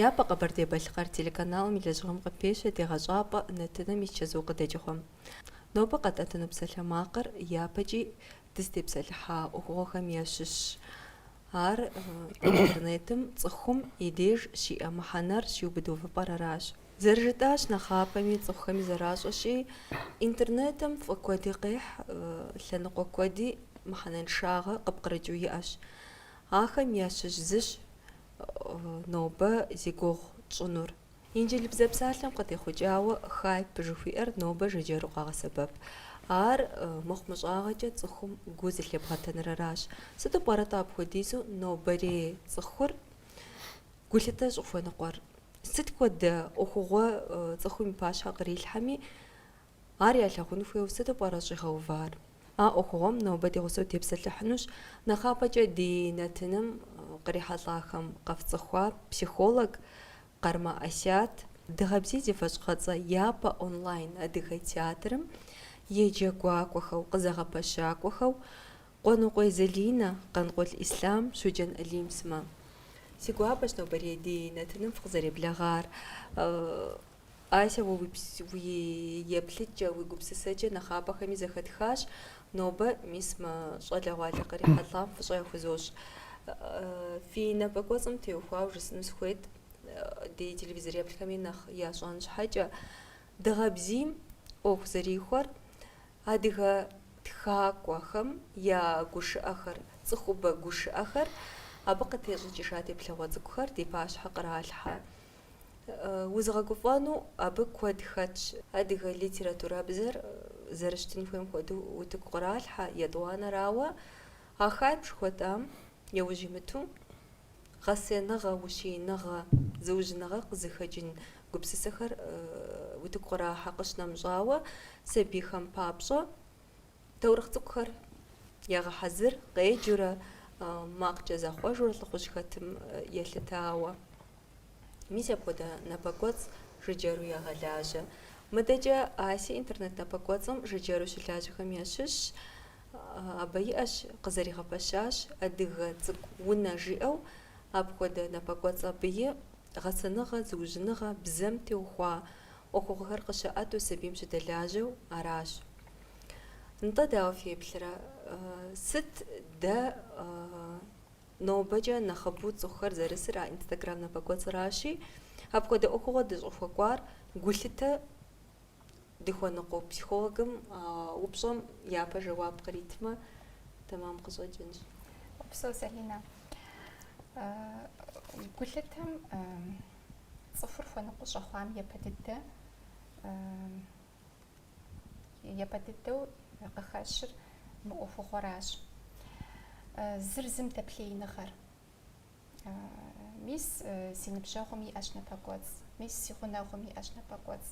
Япэ Къэбэрдей-Балъкъэр телеканалым и лэжьыгъэм къыпещэ Дегъэщӏапӏэ нэтыным и чэзу къыдэкӏыгъуэм. Нобэ къэтӏэтыну псалъэмакъыр япэкӏи дызытепсэлъыхьа ӏуэхугъуэхэм ящыщщ. Ар Интернетым цӏыхум и деж щиӏэ мыхьэнэр щиубыд увыпӏэр аращ. Зэрыжытӏащ нэхъапэми, цӏыхухэми зэращӏэщи, Интернетым фӏы куэди къехь, лъэныкъуэ куэди мыхьэнэншагъэ къыпкърыкӏыу иӏэщ. Ахэм ящыщ зыщ нобэ зи гугъу тщӏынур. Инджылыбзэ псалъэм къытехъукӏауэ хайп жыхуиӏэр нобэ жыджэру къагъэсэбэп. Ар мыхъумыщӏагъэкӏэ цӏыхум гу зылъебгъэтэныр аращ. Сыту пӏэрэ-тӏэ апхуэдизу нобэрей цӏыхур гулъытэ щӏыхуэныкъуэр? Сыт хуэдэ ӏуэхугъуэ цӏыхум и пащхьэ кърилъхьэми, ар ялъагъун хуейуэ сыту пӏэрэ щӏигъэувар? А ӏуэхугъуэм нобэ ди гъусэу тепсэлъыхьынущ нэхъапэкӏэ ди нэтыным кърихьэлӏахэм къэфцӏыхуа психолог Къармэ Асият, Дыгъэбзий зи фэщӏыгъэцӏэ япэ онлайн адыгэ театрым и джэгуакӏуэхэу, къызэгъэпэщакӏуэхэу Къуэныкъуей Залинэ, Къанкъул Ислъам, Щоджэн Алим сымэ. Си гуапэщ нобэрей ди нэтыным фыкъызэреблэгъар. Ася, уэ уи еплъыкӏэ, уи гупсысэкӏэ нэхъапэхэми зэхэтхащ. Нобэ, мис, мы щӏалэгъуалэ кърихьэлӏам фӏыщӏэ яхузощӏ. Фи напэкӏуэцӏым теухуауэ жысӏэну сыхуейт, ди телевизор еплъхэми нэхъ ящӏэн щхьэкӏэ, Дыгъэбзийм ӏуэху зэрихуэр, адыгэ тхакӏуэхэм я гушыӏэхэр, цӏыхубэ гушыӏэхэр, абы къытещӏыкӏыжа теплъэгъуэ цӏыкӏухэр ди пащхьэ къралъхьэ. Узыгъэгуфӏэну абы куэд хэтщ. Адыгэ литературабзэр зэрыщытын хуейм хуэдэу утыку къралъхьэ, етӏуанэрауэ, а хайп жыхуэтӏам яужь имыту, гъэсэныгъэ, ущииныгъэ, зыужьыныгъэ къызыхэкӏын гупсысэхэр утыку кърахьэ, къыщынэмыщӏауэ, сабийхэм папщӏэ таурыхъ цӏыкӏухэр ягъэхьэзыр, къеджэурэ, макъкӏэ захъуэжурэ лӏыхъужь хэтым елъытауэ. Мис апхуэдэ напэкӏуэцӏ жыджэру ягъэлажьэ. Мыдэкӏэ Аси интернет напэкӏуэцӏым жыджэру щылажьэхэм ящыщщ. Абы иӏэщ къызэригъэпэщащ Адыгэ цӏыкӏу унэ жиӏэу, апхуэдэ напэкӏуэцӏ абыи гъэсэныгъэ, зыужьыныгъэ, бзэм теухуа ӏуэхугъуэхэр къыщыӏэту сабийм щыдэлажьэу аращ. Нтӏэ, дауэ феплърэ, сыт дэ нобэкӏэ нэхъыбэу цӏыхухэр зэрысыр а инстаграм напэкӏуэцӏращи, апхуэдэ ӏуэхугъуэ дыщӏыхуэкӏуар гулъытэ дыхуэныкъуэу психологым а упщӏэм япэ жэуап къритмэ, тэмам къыщӏэкӏынщ. Упсэу, Залинэ. Гулъытэм цӏыхур хуэныкъуэ щӏэхъуам япэ дыдэ япэ дыдэу къыхэщыр мы ӏуэхугъуэращ. Зыр зым дэплъеиныгъэр. Мис си ныбжьэгъум иӏэщ напэкӏуэцӏ, мис си гъунэгъум иӏэщ напэкӏуэцӏ.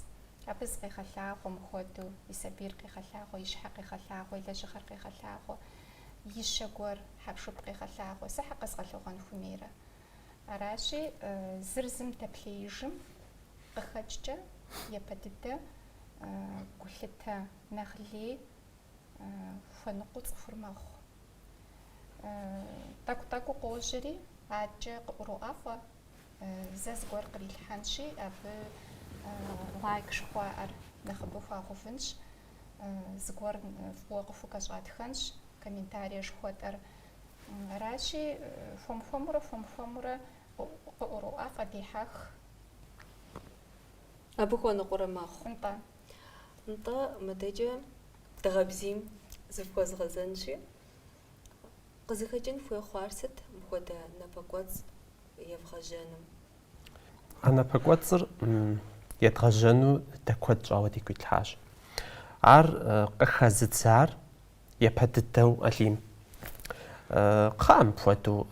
Абы зыкъегъэлъагъуэ мыхуэдэу, и сабийр къегъэлъагъуэ, и щхьэр къегъэлъагъуэ, и лэжьыгъэр къегъэлъагъуэ, ищэ гуэр, хьэпшып къегъэлъагъуэ, сэ щхьэ къэзгъэлъэгъуэн хуэмейрэ? Аращи, зыр зым дэплъеижым къыхэкӏкӏэ, япэ дыдэ гулъытэ нэхъ лей хуэныкъуэу цӏыхур мэхъу. Тӏэкӏу-тӏэкӏуу къожьэри, адэкӏэ къыӏуроӏэфӏэ, зэ зыгуэр кърилъхьэнщи, абы лайк жыхуаӏэр нэхъыбэу хуагъэувынщ, зыгуэр фӏыуэ къыхукӏэщӏатхэнщ, комментарие жыхуэтӏэр. Аращи, хуэм-хуэмурэ, хуэм-хуэмурэ къыӏуроӏэфӏэ, дехьэх. Абы хуэныкъуэрэ мэхъу. Нтӏэ. Нтӏэ, мыдэкӏэ дыгъэбзийм зыфхуэзгъэзэнщи, къызыхэкӏын хуей хъуар сыт мыпхуэдэ напэкӏуэцӏ евгъэжьэным? А напэкӏуэцӏыр едгъэжьэну дэ куэд щӏауэ дигу итлъхьащ. Ар къыхэзыдзар япэ дыдэу Алим. Кхъыӏэ, мыпхуэдэу,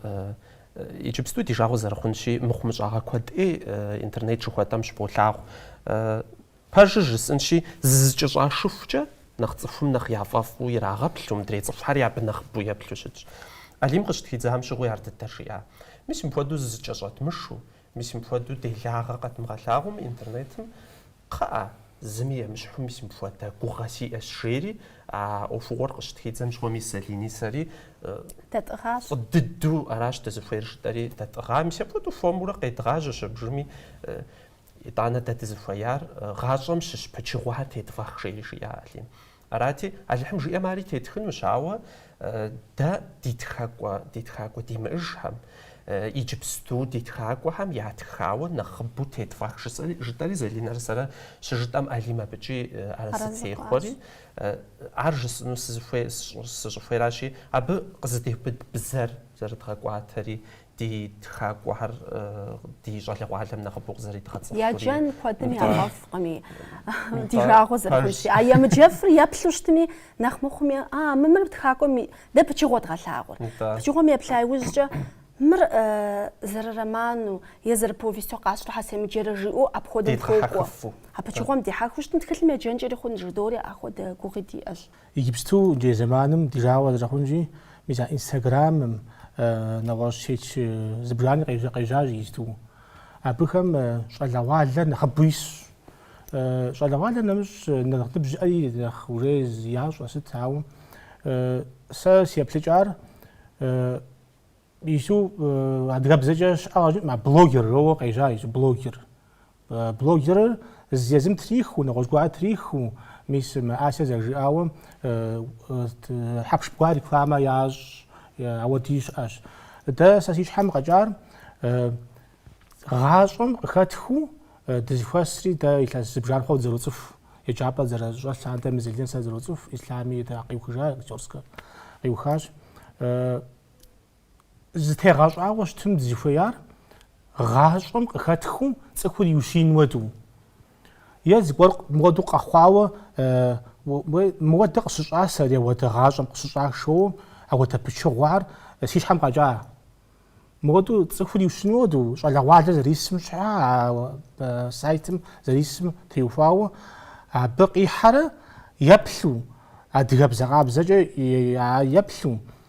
иджыпсту ди жагъуэ зэрыхъунщи, мыхъумыщӏагъэ куэд ӏей интернет жыхуэтӏэм щыболъагъу. Пэжыр жысӏэнщи, зызэкӏэщӏашыхукӏэ, нэхъ цӏыхум нэхъ яфӏэфӏу ирагъэплъу, мыдрей цӏыхухэри абы нэхъыбэу еплъу щытщ. Алим къыщытхидзам щыгъуи ар дыдэр жиӏа. Мис мыпхуэдэу зызэкӏэщӏэтмышу, мис мыпхуэдэу делагъэ къэтмыгъэлъагъуми интернетым, кхъыӏэ, зыми емыщхьу мис мыпхуэдэ гугъэ сиӏэщ, жери а ӏуэхугъуэр къыщытхидзэм щыгъуэ мис Залини сэри дэтӏыгъащ. Фӏы дыдэу аращ дызыхуейр жытӏэри, дэтӏыгъа, мис апхуэдэу хуэмурэ къедгъажьэщ абжыми. Итӏанэ дэ дызыхуеяр гъащӏэм щыщ пычыгъуэхэр тетфӏэх, жери жиӏа Алим. Арати, Алыхьым жиӏэм ари тетхынущ, ауэ дэ ди тхакӏуэ, ди тхакӏуэ димыӏэжхэм, иджыпсту ди тхакӏуэхэм ятхауэ нэхъыбэу тетфӏэх, жытӏэри Залинэрэ сэрэ щыжытӏэм Алим абыкӏи арэзы техъуэри, ар жысӏэну сызыхуей, сыщӏыхуейращи, абы къызэдеубыд бзэр зэрыдгъэкӏуатэри, ди тхакӏуэхэр ди щӏалэгъуалэм нэхъыбэу къызэридгъэцӏыхури. Яджэн куэдым ягъэфӏкъыми, ди жагъуэ зэрыхъунщи. А емыджэфыр еплъу щытми, нэхъ мыхъуми, а, мы мыр тхакӏуэм, дэ пычыгъуэ дгъэлъагъуэр. Пычыгъуэм еплъа иужькӏэ, мыр зэрыроману е зэрыповесту къасщтэрэ щхьэ семыджэрэ жиӏэу апхуэдэу хуокӏуэ. А пычыгъуэм дихьэхыу щытым, тхылъым еджэнкӏэри хъун, жыдори ахуэдэ гугъи диӏэщ. Иджыпсту иджырей зэманым ди жагъуэ зэрыхъунщи, мис а инстаграмым нэгъуэщӏ сеть зыбжани къежьащ иджыпсту. Абыхэм щӏалэгъуалэр нэхъыбэу исщ. Щӏалэгъуалэр нэмыщӏ нэхъ ныбжь зиӏэри нэхъ уже ящӏэ сыт, ауэ сэ си еплъыкӏар Ису адыгэбзэкӏэ щыӏэкъэ жыӏэм, а блогер роуэ къежьа ису блогер. Блогерыр езым триху, нэгъуэщӏ гуар триху, мис мы Ася зэрыжиӏауэ хьэпшып гуар рекламэ ящӏ, ауэди щыӏэщ. Дэ сэ си щхьэм къэкӏар гъащӏэм къыхэтхыу дызыхуэсри дэ илъэс зыбжан хъуауэ дызэроцӏыху, еджапӏэ дызэрыщӏэс лъандэм Залинэ сэ дызэроцӏыху, Ислъами дэ къиухыжа, Актерскэ къиухащ. зытегъэщӏауэ щытым дызыхуеяр гъащӏэм къыхэтхыу цӏыхур иущиин уэду. Е зыгуэр мыуэду къэхъуауэ мыуэдэ къыщыщӏа сэри ауэдэ гъащӏэм къыщыщӏашэу ауэдэ пычыгъуар си щхьэм къэкӏа. Мыуэду цӏыхур иущиин уэду щӏалэгъуалэр зэрисым щхьа сайтым зэрисым теухуауэ абы къихьэрэ еплъу адыгэбзэ къабзэкӏэ еплъу.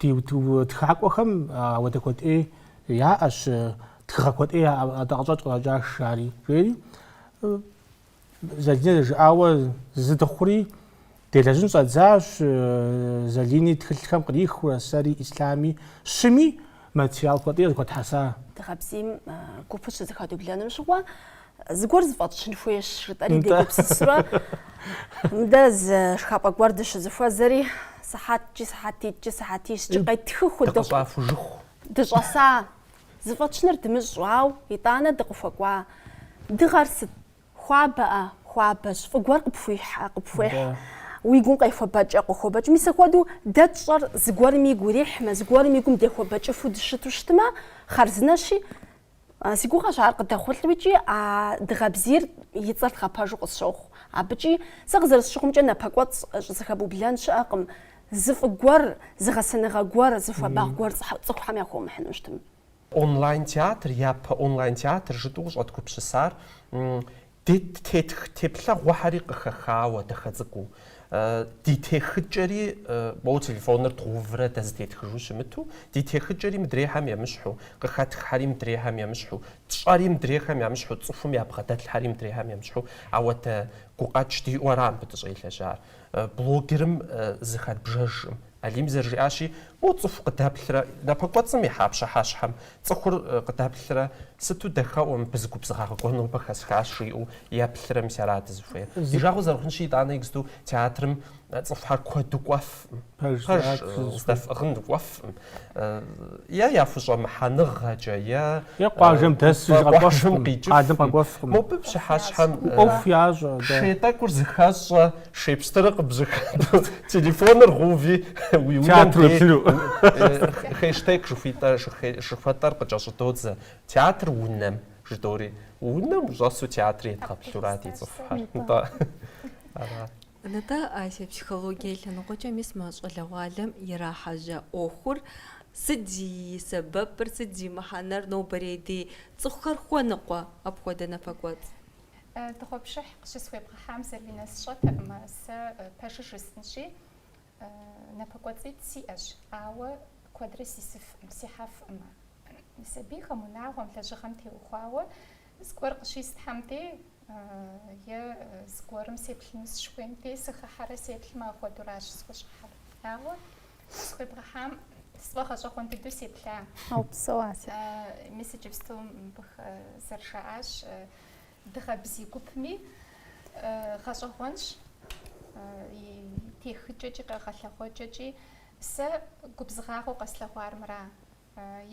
Ди тхакӏуэхэм ауэдэ куэдӏей яӏэщ, тхыгъэ куэдӏей яӏэ, атӏэ къыщӏэкӏ къыщӏэкӏащ ари, жери. Залинэ зэрыжиӏауэ зы дыхъури, делэжьын щӏэддзащ, Залини тхылъхэм кърихыурэ, сэри, Ислъами, щыми материал куэдӏей къызыхуэтхьэса. Дыгъэбзийм гупыр щызэхэдублэным щыгъуэ, Зыгуэр зыфӏэтщын хуейщ, жытӏэри дегупсысурэ мыдэ зы шхапӏэ гуэр дыщызыхуэзэри, сыхьэткӏи, сыхьэтитӏкӏи, сыхьэтищкӏи къеттхы хуэдэу дыкъыщӏахужыху дыщӏэса. Зыфӏэтщыныр дымыщӏэу, ауэ, итӏанэ дыкъыхуэкӏуа дыгъэр сыт? Хуабэ-а, хуабэщ, фӏы гуэр къыпхуихьэ, къыпхуехь, Да. уи гум къехуэбэкӏэ, къохуэбэкӏ. Мис апхуэдэу дэ тщӏэр зыгуэрым игу ирихьмэ, зыгуэрым и гум дехуэбэкӏыфу дыщыту щытмэ, хъарзынэщи, Си гугъэщ ар къыдэхъулӏэу икӏи а Дыгъэбзийр и цӏэр дгъэпэжу къысщохъу. Абыкӏи сэ къызэрысщыхъумкӏэ напэкӏуэцӏ щӏызэхэбублэн щыӏэкъым, зы фӏы гуэр, зы гъэсэныгъэ гуэр, зы хуабагъ гуэр цӏыхухэм яхуэмыхьыну щытым. Онлайн-театр, япэ онлайн-театр жытӏэу къыщӏэдгупсысар Дэ тетх теплъэгъуэхэри къыхэхауэ, дахэ цӏыкӏуу. Ди техыкӏэри, моуэ телефоныр дгъэуврэ дэ зытетхыжу щымыту, ди техыкӏэри мыдрейхэм емыщхьу, къыхэтххэри мыдрейхэм емыщхьу, тщӏэри мыдрейхэм ямыщхьу, цӏыхум ябгъэдэлъхьэри мыдрейхэм емыщхьу, ауэдэ гукъэкӏ диӏэу ара мыбы дыщӏелэжьар. Блогерым зыхэдбжэжкъым, Алим зэрыжиӏащи, моу цӏыху къыдэплърэ, напэкӏуэцӏым ихьа пщыхьэщхьэм цӏыхур къыдэплърэ, сыту дахэӏуэ, мыбы зы губзыгъагъэ гуэр нобэ хэсхащ, жиӏэу еплърэ, мис ара дызыхуейр? Ди жагъуэ зэрыхъунщи, итӏанэ иджыпсту театрым цӏыхухьэр куэду кӏуэфӏым, пэж здэфӏыгъын кӏуэфӏым, е яхущӏэмыхьэныгъэкӏэ, е къуажэм къикӏыфӏым, мобы пщыхьэщхьэм шей тӏэкӏур зыхэщӏэ, Шей пстырыр къыбжьэхэту, телефоныр гъэуви, уи унэм дей хэштег жыхуитӏэ, жыхуэтӏэр къыкӏэщӏыдодзэ. Театр унэм, жыдоӏэри, унэм ущӏэсу театрым едгъэплъурат ди цӏыхухэр. Нтӏэ. Ара. Нтӏэ, Ася, психологие лъэныкъуэкӏэ мис мы щӏалэгъуалэм ирахьэжьа ӏуэхур сыт зи сэбэпыр, сыт зи мыхьэнэр, нобэрей ди цӏыхухэр хуэныкъуэ апхуэдэ напэкӏуэцӏ? Дыгъуэпшыхь къыщысхуебгъэхьам Залинэ сщӏэтэкъым, сэ пэжыр жысӏэнщи, напэкӏуэцӏитӏ сиӏэщ, ауэ куэдрэ сисыфкъым, сихьэфкъым. Сабийхэм, унагъуэм, лэжьыгъэм теухуауэ зыгуэр къыщислъхьэм дей е зыгуэрым сеплъыну сыщыхуейм дей, сыхыхьэрэ сеплъмэ, апхуэдуращ схущӏыхьэр. Ауэ Къысхуебгъэхьам сфӏэгъэщӏэгъуэн дыдэу сеплъа. Упсэу Ася. Мис иджыпсту мыбых зэрыжаӏащ Дыгъэбзий гупми гъэщӏэгъуэнщ и техыкӏэкӏи къэгъэлъэгъуэкӏэкӏи. Сэ губзыгъагъэу къэслъэгъуар мыра.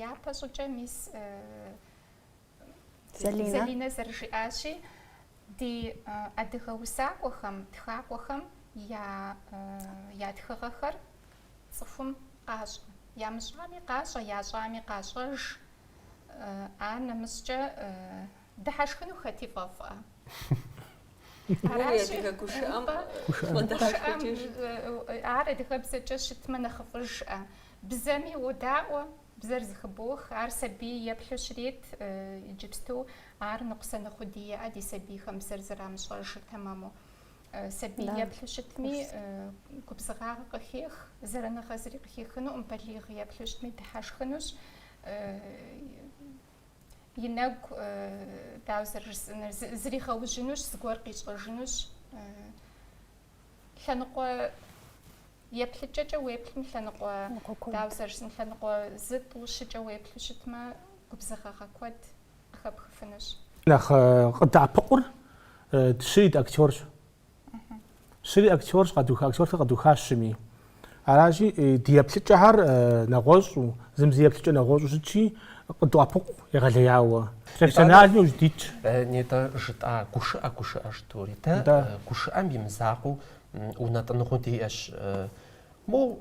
Япэ щӏыкӏэ мис Залинэ зэрыжиӏащи, ди адыгэ усакӏуэхэм, тхакӏуэхэм я я тхыгъэхэр цӏыхум къащӏэ. Ямыщӏами къащӏэ, ящӏами къащӏэж. Анэмыщӏкӏэ дыхьэшхыну хэти фӏэфӏӏэ. Аращи, адыгэ гушыӏэм фӏэдыхьэшхыкӏыж. Ар адыгэбзэкӏэ щытмэ нэхъыфӏыжӏэ. Бзэми уодаӏуэ, Бзэр зыхыбох, ар сабий еплъу щрет, иджыпсту ар ныкъусаныгъэу диӏэӏэ ди сабийхэм бзэр зэрамыщӏэжыр тэмэму. Сабий еплъу щытми, губзыгъагъэ къыхех, зэраныгъэ зыри къыхехынукъым, балигъ еплъу щытми дыхьэшхынущ, и нэгу, дауэ зэрыжысӏэнур, зригъэужьынущ, зыгуэр къищӏэжынущ. лъэныкъуэ еплъыкӏэкӏэ уеплъым лъэныкъуэ дауэ зэрыщытым лъэныкъуэ зы тӏу щыкӏэ уеплъу щытмэ губзыгъэгъэ куэд къыхэпхыфынущ. Нэхъ къыддэӏэпыкъур щыри дыактерщ. Щыри актерщ, къэдуха актерскэр къэдухащ щыми. Аращи, ди еплъыкӏэхэр нэгъуэщӏу, зым зы еплъыкӏэ нэгъуэщӏу щытщи, къыдоӏэпыкъу егъэлеяуэ. Профессиональми ущыдитщ. Нетӏэ жытӏа гушыӏэ гушыӏэ жытӏэури. Дэ гушыӏэм имызакъуэу унэтӏыныгъэу диӏэщ. Моу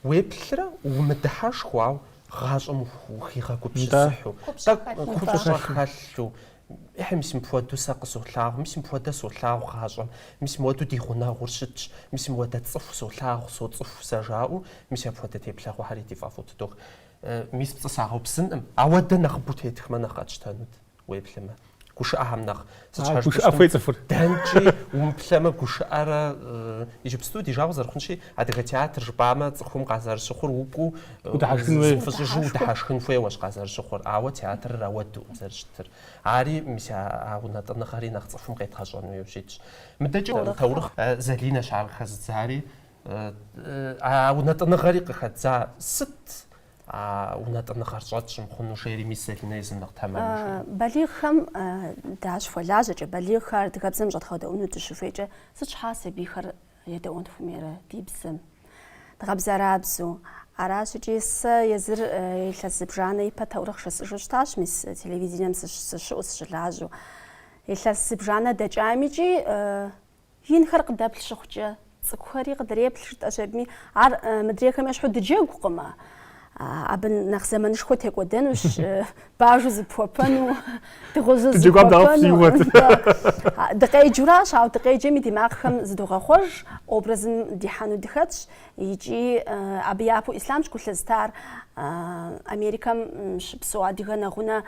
уеплърэ умыдыхьэшхыу гъащӏэм ухигъэгупсысыхьу, тӏэкӏу купщӏэ хэлъу, Ыхьы, мис мыпхуэдэу сэ къысолъагъу, мис мыпхуэдэ солъагъу гъащӏэм, мис мыуэду ди гъунэгъур щытщ, мис мыуэдэ цӏыху солъагъу, соцӏыху сэ жаӏэу, мис апхуэдэ теплъэгъуэхэри ди фӏэфӏу тыдох. Мис пцӏы сагъэупсынкъым, ауэ дэ нэхъыбэу тетхмэ нэхъ къэтщтэнут, уеплъымэ, гушыӏэхэм нэхъ. Сыт щхьэ Гушыӏэ пщтым, хуей цӏыхур. дэнкӏи умыплъэмэ гушыӏэрэ. Иджыпсту ди жагъуэ зэрыхъунщи, адыгэ театр жыпӏамэ, цӏыхум къазэрыщыхъур укӏуу, Удыхьэшхын хуей. Фыщӏыжу удыхьэшхын хуейуэщ къазэрыщыхъур, ауэ театрыр ауэдэукъым зэрыщытыр. Ари мис а а унэтӏыныгъэри нэхъ цӏыхум къедгъэщӏэн хуейу щытщ. Мыдэкӏэ а таурыхъ Залинэщ ар къыхэзыдзари. А а унэтӏыныгъэри къыхэддза сыт а унэтӏыныгъэр щӏэтщӏ мыхъуну жери мис Залинэ езым нэхъ тэмэму жаӏэ. Балигъхэм дащыхуэлажьэкӏэ, балигъхэр адыгэбзэм щӏэдгъэдэӏуну дыщыхуейкӏэ сыт щхьа сабийхэр Едэӏуэн хуэмейрэ ди бзэм? Дгъэбзэрабзэу. Аращ икӏи сэ езыр илъэс зыбжанэ ипэ таурыхъ жысӏэжу щытащ, мис телевидением сыщыӏу, сыщылажьэу. Илъэс зыбжанэ дэкӏам икӏи инхэр къыдэплъ щыхъукӏэ, цӏыкӏухэри къыдреплъ жытӏэщ абыми. Ар мыдрейхэм ещхьу дыджэгукъымэ. Абы нэхъ зэманышхуэ текӏуэдэнущ, бажэу зыпхуэпэну, дыгъужьу зыпхуэпэну. Дыкъеджуращ, ауэ дыкъеджэми ди макъхэм зыдогъэхъуэж образым дихьэну дыхэтщ. Икӏи абы япэу Ислъамщ гу лъызтар Америкэм щыпсэу адыгэ нэгъунэ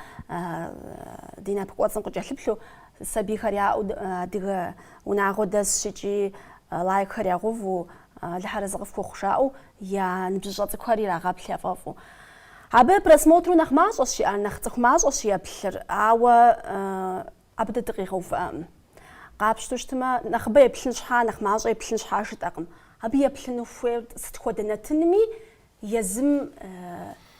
ди напэкӏуэцӏым къыкӏэлъыплъу, сабийхэр яӏэу адыгэ унагъуэ дэсщ икӏи лайкхэр ягъэуву, Алыхьыр арэзы къыфхухъу жаӏэу Я ныбжьыщӏэ цӏыкӏухэр ирагъэплъ яфӏэфӏу. Абы просмотру нэхъ мащӏэщ иӏэр, нэхъ цӏыху мащӏэщ еплъыр, ауэ абы дэ дыкъигъэувыӏэкъым. Къапщту щытмэ, нэхъыбэ еплъын щхьа, нэхъ мащӏэ еплъын щхьа жытӏэкъым. Абы еплъыну хуейр сыт хуэдэ нэтынми езым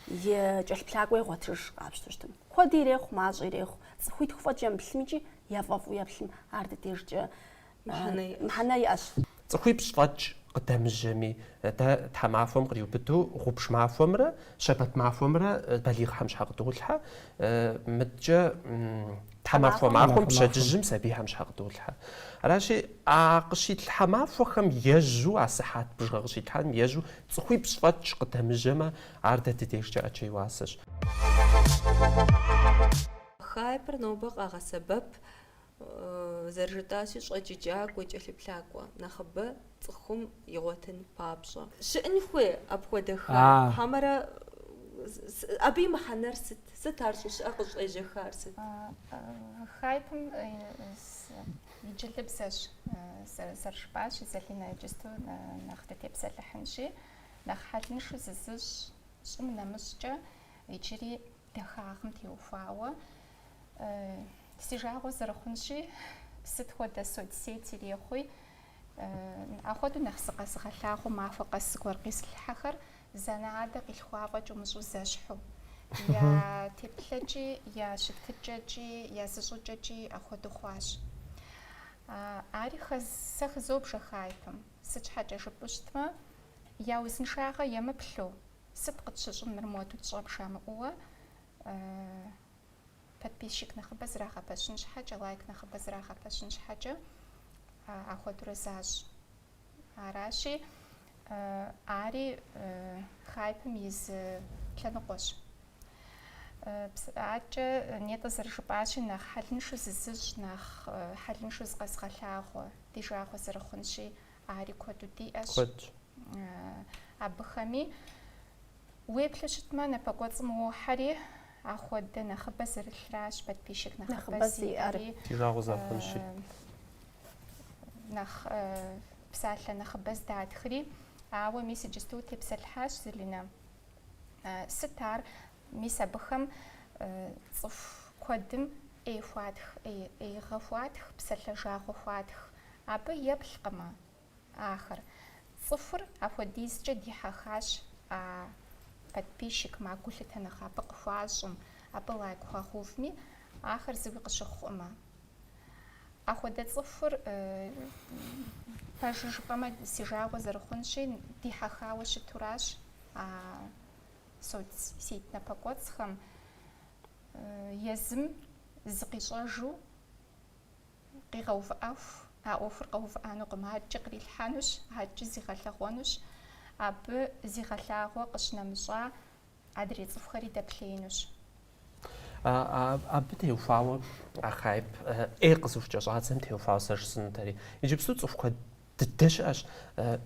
и кӏэлъыплъакӏуэ игъуэтыж, къапщту щытым. Куэди ирехъу, мащӏи ирехъу. Цӏыхуитху фӏэкӏ емыплъым икӏи яфӏэфӏу еплъым, ар ди дежкӏэ мыхьэнэ иӏэщ. Цӏыхуипщӏ фӏэкӏ къыдэмыжьэми, дэ тхьэмахуэм къриубыдэу гъубж махуэмрэ щэбэт махуэмрэ балигъхэм щхьэ къыдолъхьэ, мыдкӏэ тхьэмахуэ махуэм пщэдджыжьым сабийхэм щхьэ къыдолъхьэ. Аращи, а къыщитлъхьэ махуэхэм ежьу, а сыхьэт бжыгъэ къыщитлъхьэным ежьу цӏыхуипщӏ фӏэкӏ къыдэмыжьэмэ, ар дэ ди дежкӏэ ӏэджэ и уасэщ. Хайпыр нобэ къагъэсэбэп зэрыжытӏащи, щӏэджыкӏакӏуэ, кӏэлъыплъакӏуэ нэхъыбэ цӏыхум игъуэтын папщӏэ. Щыӏын хуей апхуэдэхэ? Хьэмэрэ абы и мыхьэнэр сыт? Сыт ар щӏыщыӏэр къыщӏежьэхар сыт? Хайпыр инджылыбзэщ, зэрыжыпӏащи, Залинэ иджысту нэхъ дытепсэлъыхьынщи, нэхъ хьэлыншу зызыщӏ щӏым нэмыщӏкӏэ иджыри Дахагъым теухуауэ си жагъуэ зэрыхъунщи, сыт хуэдэ соцсеть ирехъуи, ахуэдэу нэхъ зыкъэзыгъэлъагъуу махуэ къэс зыгуэр къизылъхьэхэр зы анэ-адэ къилъхуа фӏэкӏ умыщӏу зэщхьу. Я теплъэкӏи, я щытыкӏэкӏи, я зыщӏыкӏэкӏи ахуэдэу хъуащ. Ари сэ хызобжэ хайпым, сыт щхьэкӏэ жыпӏэу щытмэ, я узыншагъэ емыплъу, Сыт къытщыщӏын мыр моду тщӏэм жамыӏэу, Подписчик нэхъыбэ зрагъэпэщын щхьэкӏэ, лайк нэхъыбэ зрагъэпэщын щхьэкӏэ ахуэдурэ защӏ. Аращи, ари хайпым и зы лъэныкъуэщ. Адэкӏэ нетӏэ зэрыжыпӏащи, нэхъ хьэлыншу зызыщӏ, нэхъ хьэлыншу зыкъэзыгъэлъагъуэ, ди жагъуэ зэрыхъунщи, Ари куэду диӏэщ. Куэдщ. Абыхэми уеплъу щытмэ, напэкӏуэцӏым уохьэри, ахуэдэ нэхъыбэ зэрылъращ подписчик нэхъыбэ зиӏэри. Ди жагъуэ зэрыхъунщи. Нэхъ псалъэ нэхъыбэ здатхри. Ауэ мис иджысту утепсэлъыхьащ, Залинэ. Сыт ар Мис абыхэм цӏыху куэдым ӏей хуатх, ӏеигъэ хуатх, псалъэ жагъуэ хуатх. Абы еплъкъымэ ахэр. Цӏыхур апхуэдизкӏэ дихьэхащ а подписчикым, а гулъытэ нэхъ абы къыхуащӏым, абы лайк хуагъэувми, ахэр зыуи къыщыхъуӏымэ. Ахуэдэ цӏыхур, пэжу жыпӏэмэ, си жагъуэ зэрыхъунщи, дихьэхауэ щытуращ а соцсеть напэкӏуэцӏхэм езым зыкъищӏэжу къигъэувыӏэху, а ӏуэхур къэувыӏэнукъым, адэкӏэ кърилъхьэнущ, адэкӏэ зигъэлъэгъуэнущ, абы зигъэлъагъуэ къыщынэмыщӏа адрей цӏыхухэри дэплъеинущ. Абы теухуауэ а хайп ӏей къызыхукӏэ щӏадзэм теухуауэ сэ жысӏэнутэри. Иджыпсту цӏыху куэд дыдэ щыӏэщ,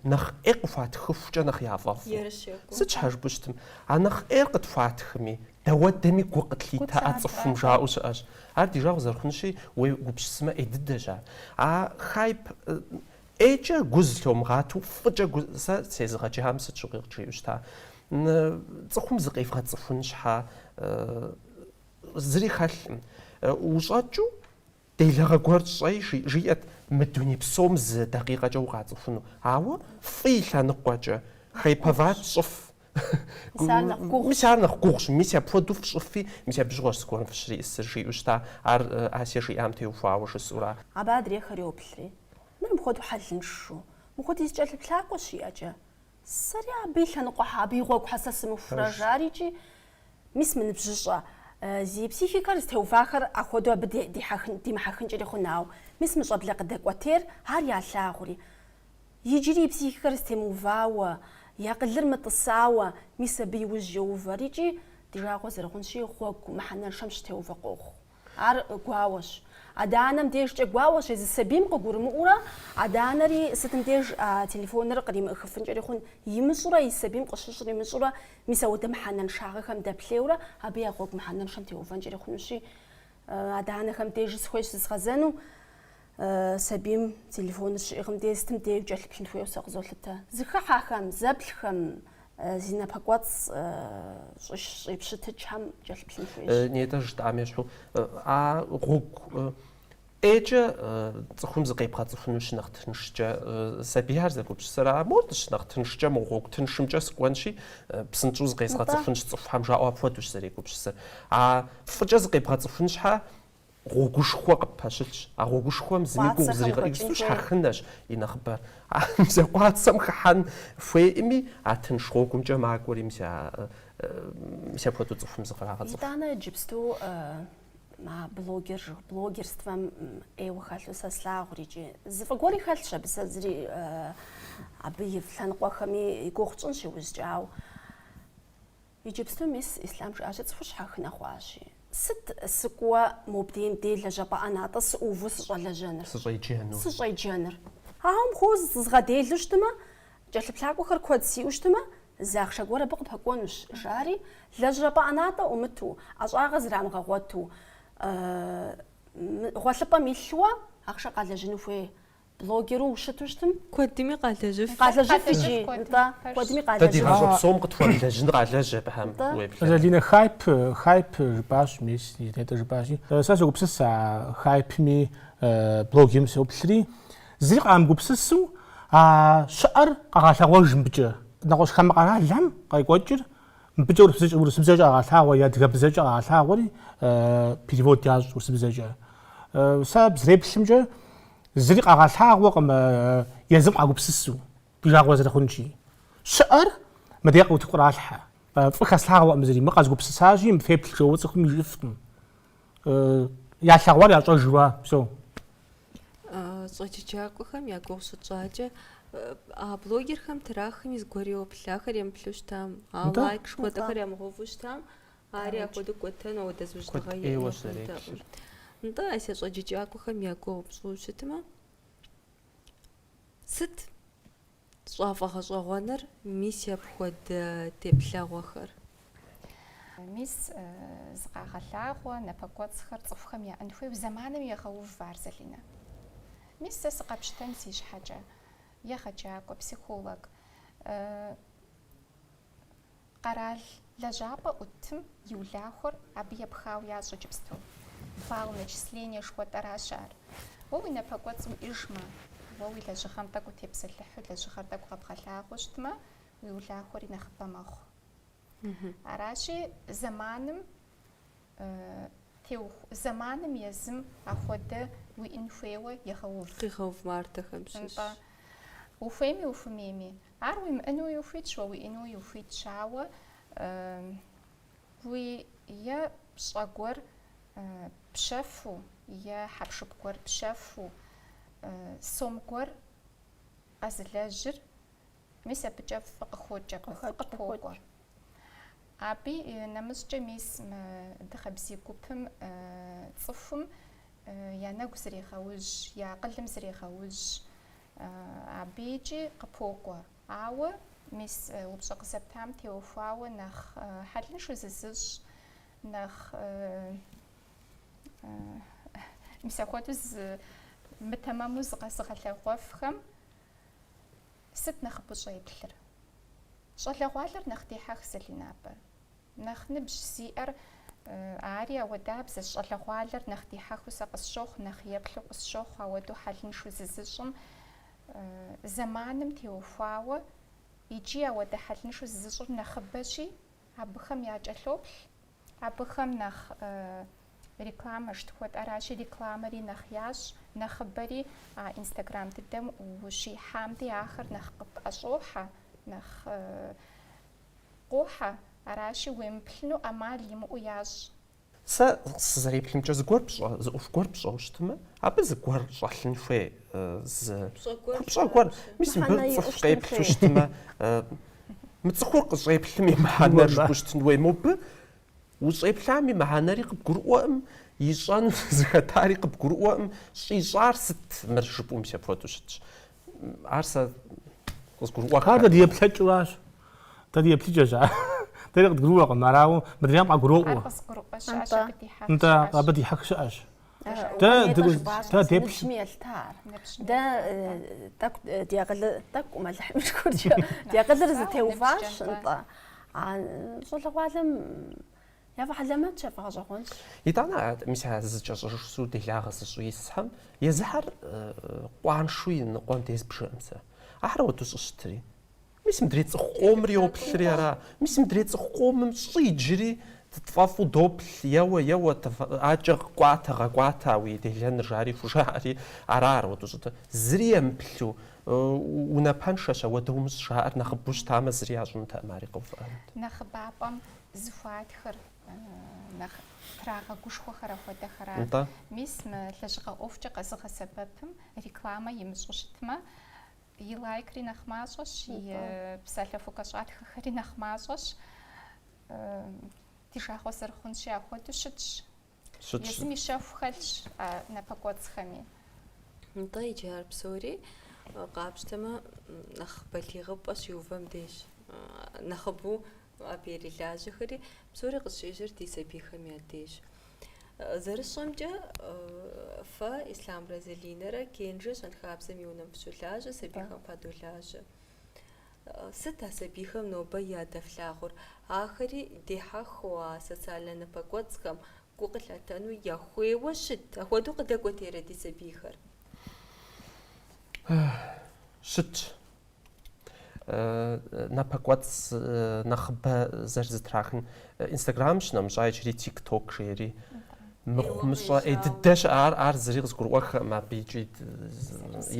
нэхъ ӏей къыхуатхыхукӏэ нэхъ яфӏэфӏу. Сыт щхьэ жыпӏэу щытмэ? А нэхъ ӏейр къытхуатхми, дэуэдэми гу къытлъитэ а цӏыхум жаӏэу щыӏэщ. Ар ди жагъуэ зэрыхъунщи, уегупсысмэ, ӏей дыдэщ ар. А хайп ӏейкӏэ гу зылъомыгъату, фӏыкӏэ гу, сэ сезыгъэджам сыт щыгъуи къыджиӏэу щыта. Цӏыхум зыкъевгъэцӏыхун щхьэ зыри хэлъым. Ущӏэкӏыу делэгъэ гуэр щӏэи, жиӏэт мы дуней псом зы дакъикъэкӏэ укъацӏыхуну. Ауэ фӏы и лъэныкъуэкӏэ хайповать щӏыф. Мис ар нэхъ гугъущ, мис апхуэдэу фщӏыфи, мис абы щыгъуэщ зыгуэрым фыщриӏысыр, жиӏэу щыта, ар Асие жиӏам теухуауэ жысӏэурэ. Абы адрейхэр йоплъри, Мыр мыпхуэдэу хьэлыншу, мыпхуэдиз кӏэлъыплъакӏуэ щиӏэкӏэ. Сэри абы и лъэныкъуэ щхьэ, абы и гъуэгу щхьэ сэ сымыхурэ жари икӏи. Мис мы ныбжьыщӏэ зи психикэр зытеувахэр ахуэдэу абы ди- дихьэхын- димыхьэхынкӏэри хъун, ауэ мис мы щӏэблэ къыдэкӏуэтейр ар ялъагъури. Иджыри и психикэр зытемыувауэ, и акъылыр мытӏысауэ, мис абы и ужь йоувэри икӏи, ди жагъуэ зэрыхъунщи, гъуэгу мыхьэнэншэм щытеувэ къохъу. Ар гуауэщ. Адэ-анэм дежкӏэ гуауэщ, езы сабийм къыгурымыӏуурэ, адэ-анэри сытым деж телефоныр къримыӏыхыфынкӏэри хъун, имыщӏурэ и сабийм къыщыщӏыр имыщӏурэ, мис ахуэдэ мыхьэнэншагъэхэм дэплъейуэрэ абы я гъуэгу мыхьэнэншэм теувэнкӏэри хъунущи, адэ-анэхэм дежи сыхуейщ зызгъэзэну. Сабийм телефоныр щиӏыгъым де, сытым деи кӏэлъыплъын хуейуэ сэ къызолъытэ. Зыхыхьэхэм, зэплъхэм зи напэкӏуэцӏ щӏипщытыкӏхэм кӏэлъыплъын хуейщ. Нетӏэж жытӏам ещхьу, а гъуэгу ӏейкӏэ цӏыхум зыкъебгъэцӏыхуну щынэхъ тыншкӏэ, сабийхэр зэгупсысыр а мор-тӏ, щынэхъ тыншкӏэ мы гъуэгу тыншымкӏэ сыкӏуэнщи, псынщӏэу зыкъезгъэцӏыхунщ цӏыхухэм жаӏэу апхуэдэущ зэрегупсысыр. А фӏыкӏэ зыкъебгъэцӏыхун щхьэ, гъуэгушхуэ къыппэщылъщ. А гъуэгушхуэм зыми гугъу зригъэхьыжу, щхьэхынэщ и нэхъыбэр. А мэз къуацэм хыхьэн хуейӏыми, а тынш гъуэгумкӏэ макӏуэри мис а мис апхуэдэу цӏыхум зыкърагъэцӏыху. Итӏанэ иджыпсту а блогер жы- блогерствэм ӏейуэ хэлъу сэ слъагъури икӏи. Зы фӏы гуэри хэлъщ абы сэ зыри абы и лъэныкъуэхэми и гугъу тщӏынщ иужькӏэ, ауэ. Иджыпсту мис Ислъам жиӏащи, цӏыхур щхьэхынэ хъуащи. Сыт сыкӏуэ мобдейм дей лэжьапӏэ ӏэнатӏэ сыӏуву сыщӏэлэжьэныр? Сыщӏеджэныр? Ауэ мыхуэду зызгъэделу щытмэ, кӏэлъыплъакӏуэхэр куэд сиӏэу щытмэ, зы ахъшэ гуэр абы къыпэкӏуэнущ, жари, лэжьапӏэ ӏэнатӏэ ӏумыту, ӏэщӏагъэ зрамыгъэгъуэту, гъуэлъыпӏэм илъу ахъшэ къалэжьыну хуей Блогеру ущыту щытым? Куэдми къалэжьыф. Къалэжьыф ижи, нтӏэ, куэдми Дэ ди къалэжьыф. гъащӏэ псом къытхуэмылэжьын къалэжь абыхэм уеблэмэ. Залинэ хайп, хайп жыпӏащ мис, нетӏэ жыпӏащи. Сэ согупсыс а хайпми, блогерми сеуплъри, зыри къамыгупсысу а щыӏэр къагъэлъэгъуэж мыбыкӏэ. Нэгъуэщӏ хамэ къэралхэм къекӏуэкӏыр Мыбыкӏэ урысыбзэкӏэ къагъэлъагъуэ, адыгэбзэкӏэ къагъэлъагъуэри перевод ящӏ урысыбзэкӏэ. Сэ сызэреплъымкӏэ зыри къагъэлъагъуэкъым езым къагупсысу, ди жагъуэ зэрыхъунщи. Щыӏэр мыдэ къыутыкуралъхьэ. Фӏы хэслъагъуэкъым зыри, мыр къэзгупсысащи, мы феплъ жэуэ цӏыхум жиӏыфкъым. Ялъэгъуар ящӏэж жыуа псо. щӏэджэджакӏуэхэм я гугъу щытщӏакӏэ, а блогерхэм тӏэ ахэми зыгуэр йоплъ, ахэр емыплъу щытам, а Нтӏэ. лайк жыхуэтӏэхэр ямыгъэуву щытам, ари апхуэдэу кӏуэтэну ахуэдэ зужьыныгъэ Куэд ӏейуэ иӏэкъым щрепхьыр. дэӏым. Нтӏэ, Ася щӏэджэджакӏуэхэм я гугъу пщӏу щытмэ, сыт щӏафӏэгъэщӏэгъуэныр мис апхуэдэ теплъэгъуэхэр. Мис зыкъагъэлъагъуэ напэкӏуэцӏхэр цӏыхухэм яӏэн хуейуэ зэманым егъэув ар, Залинэ. Мис сэ сыкъэпщтэн си щхьэкӏэ, егъэджакӏуэ, психолог. Къэрал лэжьапӏэ ӏутым и улахуэр абы епхауэ ящӏ иджыпсту. Балл начисление жыхуэтӏэращ ар. Уэ уи напэкӏуэцӏ уиӏыжмэ, уэ уи лэжьыгъэм тӏэкӏу утепсэлъыхьу лэжьыгъэр тӏэкӏу къэбгъэлъагъуэу щытмэ, уи улахуэри нэхъыбэ мэхъу. Аращи, зэманым теуху, зэманым езым ахуэдэ уиӏын хуейуэ егъэув. Къигъэув мардэхэм щыщ. Нтӏэ. Ухуейми ухумейми, Ар уимыӏэнуи ухуитщ, уэ уиӏэнуи ухуитщ, ауэ уи е пщӏэ гуэр пщэфу, е хьэпшып гуэр пщэфу, сом гуэр къэзылэжьыр, мис абыкӏэ фӏы къыхокӏ, фӏы къыпокӏуэ. Абы нэмыщӏкӏэ мис мы Дыгъэбзий гупым цӏыхум я нэгу зрегъэужь, я акъылым зрегъэужь, Абыкӏи къыпокӏуэ. Ауэ, мис, упщӏэ къызэптам теухуауэ нэхъ хьэлыншу зызыщӏ, нэхъ, мис апхуэдэу зы мытэмэму зыкъэзыгъэлъэгъуэфхэм сыт нэхъыбэ щӏеплъыр? Щӏалэгъуалэр нэхъ дихьэх, Залинэ, абы. Нэхъ ныбжь зиӏэр ари ауэдабзэщ, щӏалэгъуалэр нэхъ дихьэхыу сэ къысщохъу, нэхъ еплъу къысщохъу, ауэдэу хьэлыншэу зызыщӏым, зэманым теухуауэ, икӏи ауэдэ хьэлыншэу зызыщӏыр нэхъыбэщи, абыхэм якӏэлъоплъ, абыхэм нэхъ рекламэ щтхуэт, аращи, рекламэри нэхъ ящӏ, нэхъыбэри а инстаграм дыдэм ущихьам дей ахэр нэхъ къыпӏэщӏохьэ, нэхъ Къохьэ, аращи, уемыплъыну ӏэмал имыӏэу ящӏ. Сэ сызэреплъымкӏэ зыгуэр пщӏэ, зы ӏуэху гуэр пщӏэу щытымэ, абы зыгуэр щӏэлъын хуей, зы купщӏэ гуэр, мис мыбы цӏыху къеплъу щытымэ, мы цӏыхур къыщӏеплъым и мыхьэнэр жыпӏэу щытын хуей, мобы ущӏеплъам и мыхьэнэри къыбгурыӏуэкъым, ищӏэну зыхэтари къыбгурыӏуэкъым, щӏищӏар сыт мыр жыпӏэу мис апхуэдэу щытщ. Ар сэ къызгурыӏуэххэ? Ар дэ ди еплъыкӏэу аращ. Дэ ди еплъыкӏэщ ар. Дэри къыдгурыӏуэкъым, ар, ауэ мыдрейм къагуроӏуэ. Ар къызыгурыӏуэ щыӏэщ, абы дихьэх щыӏэщ. Нтӏэ, абы дихьэх щыӏэщ. Дэ ди ныбжьми елъыта ар. Дэ тӏэкӏу ди акъылыр, тӏэкӏу Алыхьым и шыкуркӏэ, ди акъылыр зэтеуващ, нтӏэ. А щӏалэгъуалэм Яфӏэхьэлэмэтщ, яфӏэгъэщӏэгъуэнщ. Итӏанэ а мис а зызкӏэщӏыжу делагъэ зыщӏу исхьэм езыхьэр къуаншу иныкъуэм де збжыӏым сэ. Ахэр ауэдэу щӏыщытри. Мис мыдрей цӏыху къомыр йоплъри ара? Мис мыдрей цӏыху къомым щӏы иджыри тфӏэфӏу доплъ, еуэ, еуэ, адэкӏэ кӏуатэ, гъэкӏуатэ а уи делэныр, жари хужаӏэри ара ар ауэдэу щӏыщытыр? Зыри емыплъу, унапэншэщ, ауэдэ умыщӏ жаӏэр нэхъыбэу щытамэ, зыри ящӏынутэкъым, ари къэувыӏэнут. Нэхъыбапӏэм зыхуатхыр нэхъ трагъэгушхуэхэр ахуэдэхэра? Нтӏэ. Мис мы лэжьыгъэ ӏуэхукӏэ къэзыгъэсэбэпым рекламэ имыщӏу щытмэ, и лайкри нэхъ мащӏэщ, и Нтӏэ. э, псалъэ хукӏэщӏатхэхэри нэхъ мащӏэщ. Э, Ди жагъуэ зэрыхъунщи, апхуэдэу щытщ. Щытщ. Езым и щэху хэлъщ а напэкӏуэцӏхэми. Нтӏэ, иджы ар псори, къапщтэмэ, нэхъ балигъыпӏэ щиувэм дежщ. Нэхъыбэу абы ирилажьэхэри, псори къыщежьэр ди сабийхэм я дежщ. Зэрысщӏэмкӏэ, фэ, Ислъамрэ Залинэрэ Кенжэ щэнхабзэм и унэм фыщолажьэ, сабийхэм фадолажьэ. Сыт а сабийхэм нобэ ядэфлъагъур? Ахэри дехьэхыу а социальнэ напэкӏуэцӏхэм гу къылъатэну яхуейуэ щыт? Апхуэдэу къыдэкӏуэтейрэ ди сабийхэр? Щытщ. Напэкӏуэцӏ нэхъыбэ зэрызэтрахын Инстаграм щынэмыщӏа иджыри тик ток жери мыхъумыщӏэ ӏей дыдэ щыӏэ ар ар зыри къызгурыӏуэххэкъым абы икӏи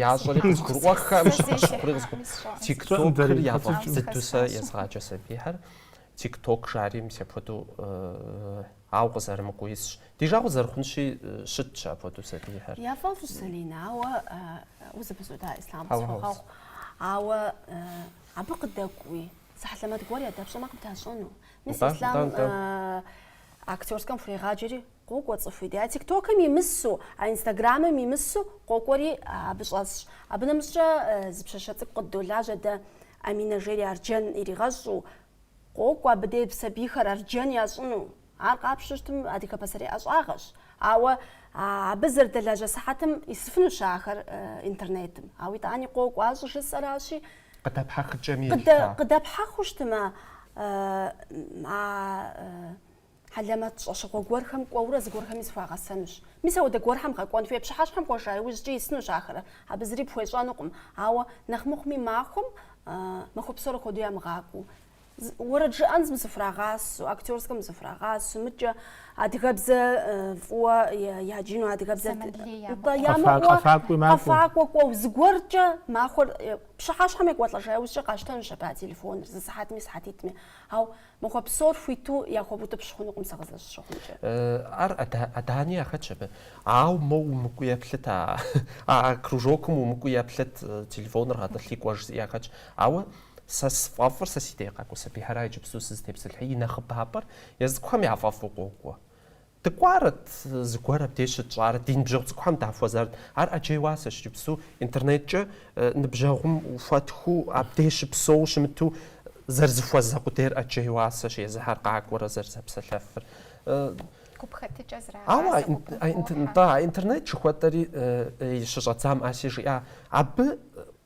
ящӏэри къызгурыӏуэххэкъым щыхъури къызгурыӏуэххэкъым тик токыр яфӏэфӏ дыдэу сэ езгъаджэ сабийхэр тик ток жари мис апхуэдэу ау къызэрымыкӏуэу исщ ди жагъуэ зэрыхъунщи щытщ апхуэдэу сабийхэр яфӏэфӏщ Залинэ ауэ узэпызуда Ислъам къысхуэгъэгъу ауэ абы къыдэкӏуи Зы хьэлэмэт гуэр ядэпщӏэмэ къыбдащӏэну. Мис Нтӏэ, Ислъам нтӏэ, нтӏэ. э, актерскэм хурегъаджэри къокӏуэ цӏыху и дей. А тиктокым имысу, а инстаграмым имысу къокӏуэри а, абы щӏэсщ. Абы нэмыщӏкӏэ э, зы пщащэ цӏыкӏу къыддолажьэ дэ, Аминэ жери Арджэн иригъэщӏу. Къокӏуэ абы дей б сабийхэр Арджэн ящӏыну. Ар къапщтэу щытым адыгэ пасэрей ӏэщӏагъэщ, ауэ абы зэрыдэлажьэ сыхьэтым исыфынущ ахэр интернетым. Ауэ итӏани къокӏуэ ящӏ жысӏэращи, Къыдэпхьэхыкӏэми елъыта. Къыдэпхьэхыу щытымэ, а хьэлэмэт щӏэщыгъуэ гуэрхэм кӏуэурэ зыгуэрхэми зыхуагъэсэнущ. Мис апхуэдэ гуэрхэм гъэкӏуэн хуей пщыхьэщхьэм кӏуэжа иужькӏи исынущ ахэр, абы зыри пхуещӏэнукъым. Ауэ нэхъ мыхъуми махуэм махуэ псор хуэдэу ямыгъакӏуэу Уэрэд жыӏэным зыфрагъасу, актерскэм зыфрагъасу, мыдкӏэ адыгэбзэ фӏыуэ яджыну, адыгэбзэ къэфакӏуэ кӏуэу, зыгуэркӏэ махуэр пщыхьэщхьэм екӏуэлӏэжа иужькӏэ къащтэнущ абы а телефоныр, зы сыхьэтми, сыхьэтитӏми. Ау махуэ псор хуиту яхуэбутӏыпщ хъунукъым сэ къызэрысщыхъумкӏэ. Ар адани яхэтщ абы. Ау мэ умыкӏуи еплъыт, а кружокым умыкӏуи еплъыт, телефоныр гъэтӏылъи кӏуэ жызыӏи яхэтщ. Ауэ Сэ сфӏэфӏыр сэ си дей къакӏуэ сабийхэра иджыпсту сызытепсэлъыхьи, и нэхъыбапӏэр езы цӏыкӏухэм яфӏэфӏу къокӏуэ. Дыкӏуарэт, зыгуэр абдеж щытщӏарэт, ди ныбжьэгъу цӏыкӏухэм дахуэзарэт. Ар ӏэджей уасэщ иджыпсту, интернеткӏэ ныбжьэгъум ухуэтхыу, абдеж щыпсэуу щымыту зэрызыхуэзэ къудейр ӏэджей уасэщ, езыхэр къакӏуэрэ зэрызэпсэлъэфыр. Гупхэтыкӏэ зрагъасэ гупым хохьэ. Атӏэ, а интернет жыхуэтӏэри щыщӏэдзам Аси жиӏа. Абы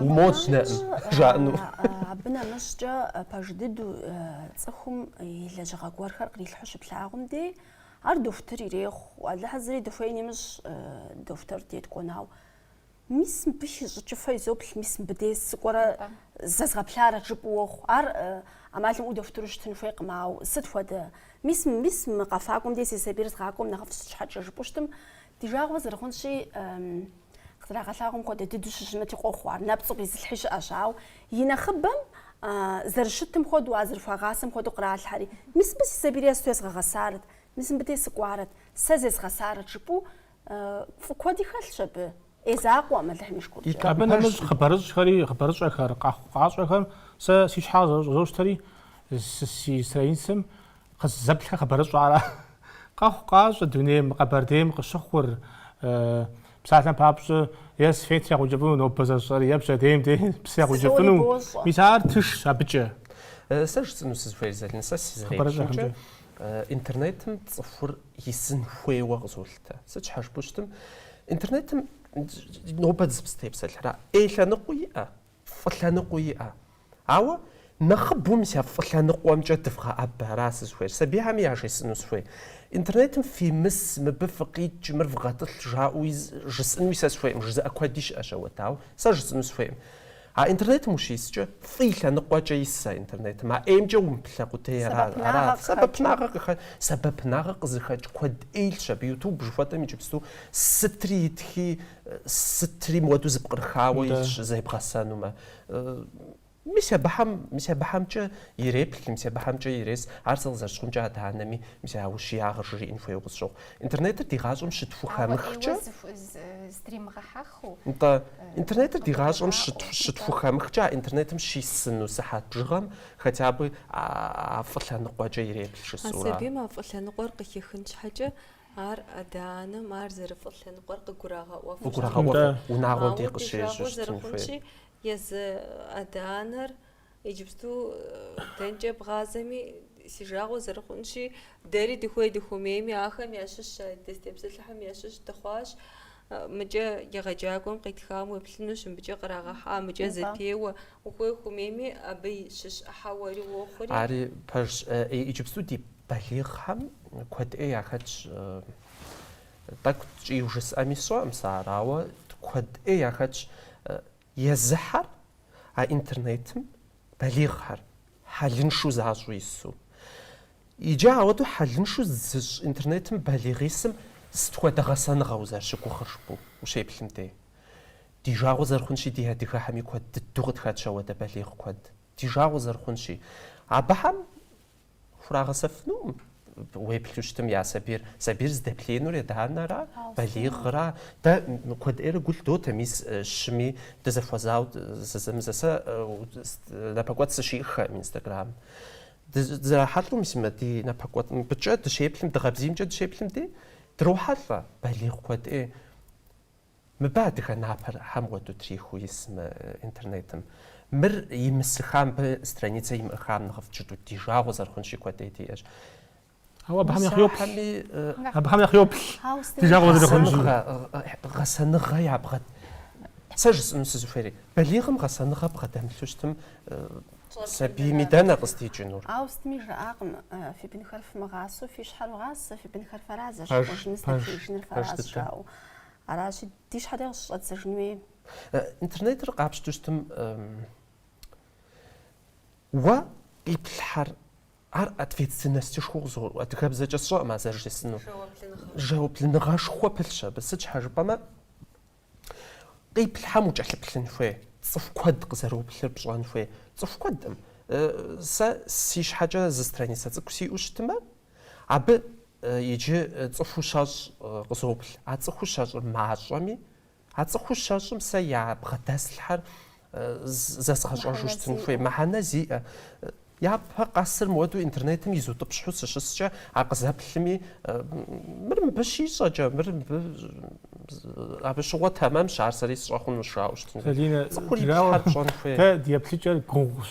Умоц дэ, жаӏэну. Абы нэмыщӏкӏэ пэж дыдэу цӏыхум и лэжьыгъэ гуэрхэр кърилъхьу щыплъагъум дей, ар дохутыр ирехъу. Алыхьым зыри дыхуейн имыщӏ дохутыр дей дыкӏуэну ауэ. Мис мыбы хищӏыкӏыфэ изоплъ, мис мыбы дей сыкӏуэрэ зезгъэплъарэт жыпӏэу уохъу. Ар ӏэмал имыӏэу дохутыру щытын хуейкъым, ауэ сыт хуэдэ? Мис, мис мы къэфакӏуэм дей си сабийр згъакӏуэм нэхъыфӏщ сыт щхьэкӏэ жыпӏэу щытым, ди жагъуэ зэрыхъунщи, Къызэрагъэлъагъуэм хуэдэ дыдэу щыщымыти къохъу ар, нэпцӏу къизылъхьи щыӏэщ, ауэ и нэхъыбэм зэрыщытым хуэдэу, а зэрыхуагъасэм хуэдэу къралъхьэри, мис мыбы си сабийр есту езгъэгъэсарэт, мис мыбы дей сыкӏуарэт, сэ зезгъэсарэт жыпӏэу фӏы куэди хэлъщ абы. ӏей закъуэкъым Алыхьым и шыкуркӏэ. Абы нэмыщӏ хъыбарыщӏхэри, хъыбарыщӏэхэр, къэхъукъащӏэхэр сэ си щхьэкӏэ зэщӏызощтэри, си страницэм Къызэплъхэр хъыбарыщӏэ ара? Къэхъукъащӏэ дунейм, мы Къэбэрдейм къыщыхъур. Псалъэм папщӏэ, е свет ягъэукӏыфӏыну нобэ зэщӏэри, е пщэдейм дей псы ягъэукӏыфӏыну. Мис ар тыншщ абыкӏэ. Сэ жысӏэну сызыхуейр, Залинэ, сэ сызэреплъымкӏэ, интернетым цӏыхур исын хуейуэ къызолъытэ. Сыт щхьэ жыпӏэу щытым, интернетым нобэ дызытепсэлъыхьра? ӏей лъэныкъуи иӏэ, фӏы лъэныкъуи иӏэ. Ауэ нэхъыбэу мис а фӏы лъэныкъуэмкӏэ дывгъэӏэбэ, ара сызыхуейр, сабийхьэми яжесӏэну сыхуей. Интернетым фимыс, мыбы фыкъикӏ, мыр вгъэтӏылъ жаӏэуи жысӏэнуи сэ сыхуейкъым, жызыӏэ куэди щыӏэщ ауэдэу, ауэ, сэ жысӏэну сыхуейкъым. А интернетым ущискӏэ, фӏы и лъэныкъуэкӏэ ис а интернетым, а ӏеймкӏэ умыплъэ къудей ара, ара, сэбэпынагъэ къыхэ, сэбэпынагъэ къызыхэкӏ куэд ӏей илъщ абы, ютуб жыхуэтӏэм иджыпсту сытри итхи, Сытри мыуэду зыпкърыхауэ Да. илъщ зебгъэсэнумэ. Мис абыхэм, мис абыхэмкӏэ иреплъ, мис абыхэмкӏэ ирес. Ар сэ къызэрыщыхъумкӏэ адэ-анэми мис а ущиягъыр жриӏэн хуейуэ къысщохъу. Интернетыр ди гъащӏэм Ауэ щытхухэмыхкӏэ, ӏейуэ зыху- зы- здримыгъэхьэхыу. нтӏэ, интернетыр ди гъащӏэм къыдэжаӏэу, щыт- нтӏэ. щытхухэмыхкӏэ, а интернетым щисыну сыхьэт бжыгъэм хотя бы а а фӏы лъэныкъуэкӏэ иреплъ А жысӏэурэ. сабийм а фӏы лъэныкъуэр къыхихын щхьэкӏэ, Ар адэ-анэм ар зэрыфӏы лъэныкъуэр къыгурагъэӏуэу, къыгурагъэӏуэу унагъуэм дей къыщежьэу щытын хуейр. Езы адэ-анэр иджыпсту дэнкӏэ бгъазэми, си жагъуэ зэрыхъунщи, дэри дыхуей-дыхуэмейми ахэм ящыщ, а дызытепсэлъыхьым ящыщ дыхъуащ. Мыкӏэ егъэджакӏуэм къитхам уеплъынущ, мыбыкӏэ кърагъэхьа, мыкӏэ зэтеуэ. Ухуей ухумейми, абы и щыщ ӏыхьэ уэри уохъури. Ари пэжщ. Иджыпсту ди балигъхэм куэд ӏей яхэтщ. Тӏэкӏу ткӏийу жысӏэми сщӏэкъым сэ ар, ауэ куэд ӏей яхэтщ. Езыхьэр а интернетым балигъхэр хьэлыншу защӏу ису. Иджы ауэдэу хьэлыншу зыщӏ интернетым балигъ исым сыт хуэдэ гъэсэныгъэ узэрыщыгугъыр жыпӏэу ущеплъым де. Ди жагъуэ зэрыхъунщи ди адыгэхэми куэд дыдэу къытхэтщ ауэдэ балигъ куэд. Ди жагъуэ зэрыхъунщи. Абыхэм Хурагъэсэфынукъым уеплъу щытым я сабийр. Сабийр здэплъеинур адэ-анэра, балигъра. Дэ куэд ӏейрэ гу лъдотэ мис щыми дызэхуэзауэ зэзэмызэ. Сэ напэкӏуэцӏ сыщихьэм Инстаграмым. Дызэрахьэлӏэу мис мы ди напэкӏуэцӏ мыбыкӏэ дыщеплъым, дыгъэбзиймкӏэ дыщеплъым ди, дрохьэлӏэ балигъ куэд ӏей. Мыбы адыгэ напэр хьэм уэду трихыу ис мы интернетым. Мыр имысыха, мыбы страницэ имыӏэхам нэхъыфӏт жытӏэу ди жагъуэ зэрыхъунщи куэдей диӏэщ. Ауэ абыхэм нэхъ йоплъ. Усахьэми, Абыхэм нэхъ йоплъ ди жагъуэ зэрыхъунщи. гъэсэныгъэ, гъэсэныгъэ ябгъэ, сэ жысӏэну сызыхуейри, балигъым гъэсэныгъэ бгъэдэмылъу щытым, сабийми дэнэ къыздикӏынур? Ауэ сытми жаӏакъым, фи бынхэр фымыгъасэу фи щхьэр вгъасэ, фи бынхэр фэра зэщхь, Пэж, хъужынур пэж, стэфеижыныр пэж фэращ, дыдэ. жаӏэу. Аращи, ди щхьэ дэ къыщыщӏэддзэжын хуей? Интернетыр къапщту щытым, уэ къиплъхьэр ар ответственностышхуэу къызыгъуэту, адыгэбзэкӏэ сщӏэкъым а зэрыжысӏэнур. Жэуаплыныгъэ. Жэуаплыныгъэшхуэ пылъщ абы. Сыт щхьэ жыпӏэмэ, къиплъхьэм укӏэлъыплъын хуей, цӏыху куэд къызэроплъыр пщӏэн хуей, цӏыху куэдым. Сэ си щхьэкӏэ зы страницэ цӏыкӏу сиӏэу щытмэ, Абы иджы цӏыхуу щэщӏ къызоплъ. А цӏыхуу щэщӏыр мащӏэми, а цӏыхуу щэщӏым сэ ябгъэдэслъхьэр зэзгъэщӏэжу щытын хуей, мыхьэнэ зиӏэ. Япэ къэсыр мыуэду интернетым изутӏыпщхьу сыщыскӏэ, ар къызэплъми, мыр мыбы щищӏэкӏэ, мыр мыбы абы щыгъуэ тэмэмщ, ар сэри сщӏэ хъунущ жаӏэу щытын хуей. Цӏыхур иплъхьэр пщӏэн хуейр. Дэ ди еплъыкӏэр гугъущ.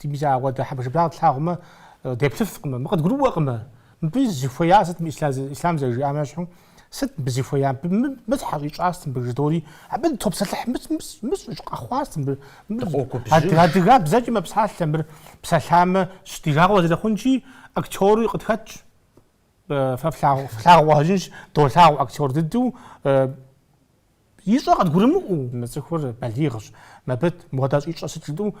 Ди бзэ ауэдэ хьэбыршыбырагъ тлъагъумэ, деплъыфкъымэ, мы къыдгурыӏуэкъымэ, мыбы зыхуея сыт мы Ислам зэрыжиӏам ещхьу, сыт мыбы зыхуея, мыбы мы щхьэ щӏищӏа сыт мыбы жыдори, абы дытопсэлъыхь, мы щӏыщӏ къэхъуа сыт мыбы, мыбы адыгэбзэкӏи мэпсалъэ, мыр псалъамэ щ ди жагъуэ зэрыхъунчи, актери къытхэтщ, фэ флъагъуу къыщӏэкӏынщ, долъагъу актер дыдэу, Ищӏэ къыдгурымыӏуэу мы цӏыхур балигъщ, мыбы мыуэдэ щӏищӏэ сыт жытӏэу